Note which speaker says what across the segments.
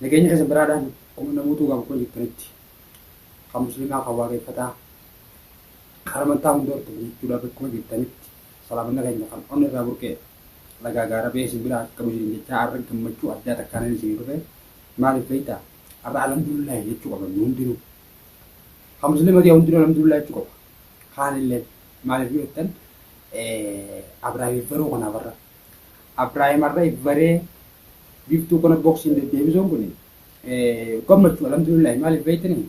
Speaker 1: Nageenya keessan biraadhaan ummanna guutuu kan koo jirtanitti kan muslimaa kan waaqeffataa kan amantaa hunda hordofu jechuudha bakkuma jirtanitti salaamanna keenya kan onni irraa burqee lagaa gaara ba'ee isin biraa akka bujirin jechaa arra gammachuu addaa takkaanan isin dhufe maaliif beektaa arra alhamdulillahi jechuu qaban nu hundinuu kan muslima ta'e hundinuu alhamdulillahi jechuu qaba kaanillee maaliif yoo jettan abraahimiif garuu kanaaf arra Abrahim Arra Ibbaree biftuu kana boksiin deddeebisuun kun gammachuu alhamdulillahi maaliif beektanii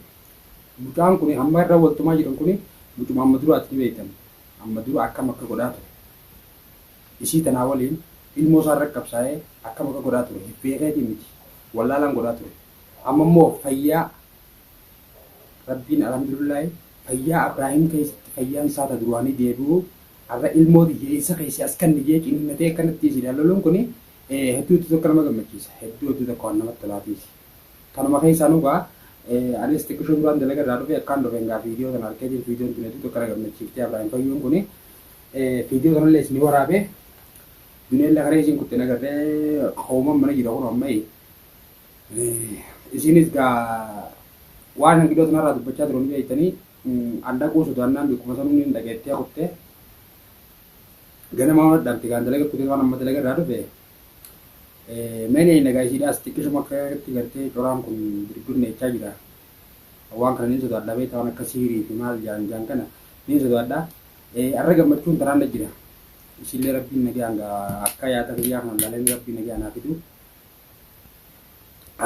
Speaker 1: mucaan kun amma irra waltumaa jiran kun mucuma amma dura ati beektan amma dura akkam akka godhaa ture isii tanaa waliin ilmoo isaa irra qabsaa'ee akkam akka godhaa ture beekeetii miti wallaalaan godhaa ture amma immoo fayyaa Rabbiin Alhamdulillahi fayyaa Abraahim keessatti fayyaan isaa ta duraanii deebi'uu har'a ilmoo tiyya eessa keessi as kanni jee ciniinnatee akkanatti isin haloluun kuni hedduu itti tokko nama gammachiisa hedduu hedduu tokko waan namatti tolaatiisi. Kanuma keessaa nugaa anis xiqqishoo duraan dalaga irraa dhufee akkaan dhufe ngaa fiidiyoo tana arkeetiin fiidiyoon tun hedduu tokko na gammachiiftee Abraahim fayyuun kuni fiidiyoo tanallee isin waraabee duneellee kana isin kutte nagarree hooman mana jira kun amma Isiinis gaa waan hangidoota narraa dubbachaa turan beektanii an dhaquu sodaannaan bikkuma sanuu niin dhageettee kutte. Ganama waan dhabte gaa dalaga kutee waan amma dalaga irraa dhufe. Meen eeyna gaa isiidhaas xiqqishuma akkatti gartee coraan kun birbirneechaa jira. Waan kana niin sodaadha beektaa waan akka siirii fi maal jaan jaan kana niin sodaadha. Arra gammachuun taraan na jira. Isiillee rabbiin nagaan gaa akka yaada kiyyaa kana laaleen rabbiin nagaan haa fidu.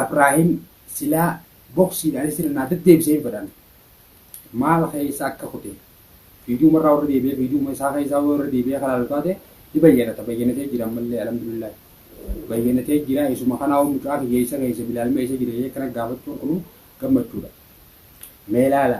Speaker 1: Abrahim silaa boksiidhaan isirra naa deddeebisee hin fedhan. Maal keessa akka kute fiiduuma irraa warra deebi'ee fiiduuma isaa keessaa warra deebi'ee kan laalu taate ni bayyanata bayyanatee jira ammallee alhamdulillah. Bayyanatee jira isuma kanaa hoo mucaa kiyya isa keessa bilaalma isa jira jee kana gaafachuun kunu gammachuudha. Mee laala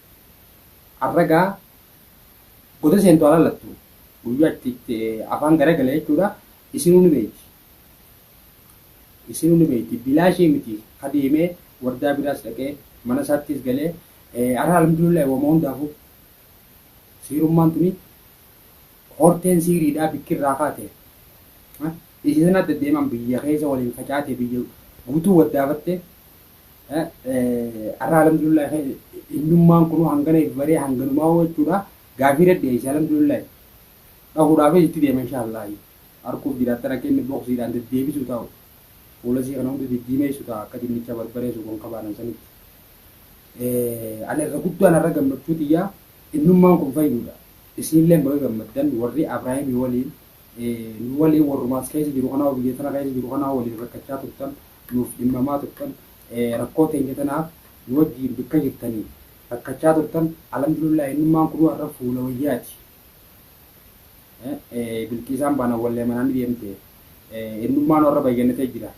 Speaker 1: Har'a egaa goda seentu haa laallattu. Guyyaa itti itti afaan garagale jechuudha. Isinuu ni beekti. Isinuu ni beekti. Bilaashii miti ka deemee wardaa biraas dhaqee mana isaattis galee har'a alhamdulillah wama hundaafuu siirummaan tuni horteen siiriidhaa bikki irraa kaate. Isii sana adda deemaan biyya keessa waliin facaate biyya guutuu waddaafatte Arra alhamdulillah innummaan kunuu hangana if baree hanganumaa hoo jechuudha gaafii irra dhiyeesse alhamdulillah dhahuudhaafis itti deema inshaallah harkuuf jiraattara keenya boksiidhaan deddeebisu ta'u fuulasii kana hunda diddiimeessu ta'a akka dinnicha barbaree suuqan qabaanan sanitti. Ani irra guddaan irra gammachuu tiyyaa innummaan kun fayyuudha. Isiinillee baga gammaddan warri Abraahimii waliin nu waliin warruma as keessa jiru kanaa biyya tana keessa jiru kanaa waliin rakkachaa turtan nuuf dhimmamaa turtan rakkoo teenya tanaaf nu wajjiin bikka jirtanii rakkachaa turtan alhamdulillah innummaan kunuu har'a fuula wayyaati bilqiisaan baana wallee manaan deemte innummaan warra bayyannatee jira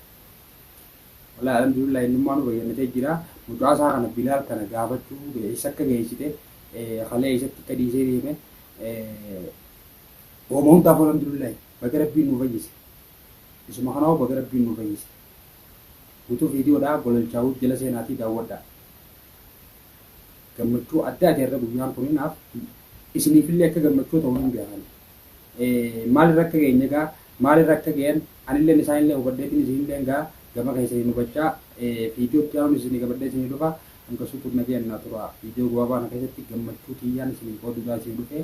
Speaker 1: walaa alhamdulillah innummaan nu bayyannatee jira mucaasaa kana bilaal kana gaafachuu eessa akka geessite halee eessatti akka dhiisee deeme Woma hundaaf alhamdulillahi baga rabbiin nuu fayyise isuma kanaahu baga rabbiin nuu fayyise gutuu viidiyoodhaa gololchaawuu jala seenaatii daawwadhaa gammachuu addaati har'a guyyaan kun naaf isiniifillee akka gammachuu ta'u nan beekan maalirra akka geenye egaa maalirra akka ga'een anilleen isaanillee hubadheetiin isinilleen gaa gama keessaniin hubachaa viidiyoo itti aanuun isinii qabadhee isinii dhufa hanga suutuun nagayaan naa turaa viidiyoo gabaabaa kana keessatti gammachuu kiyyaan isinii qooduudhaan isinii dhufee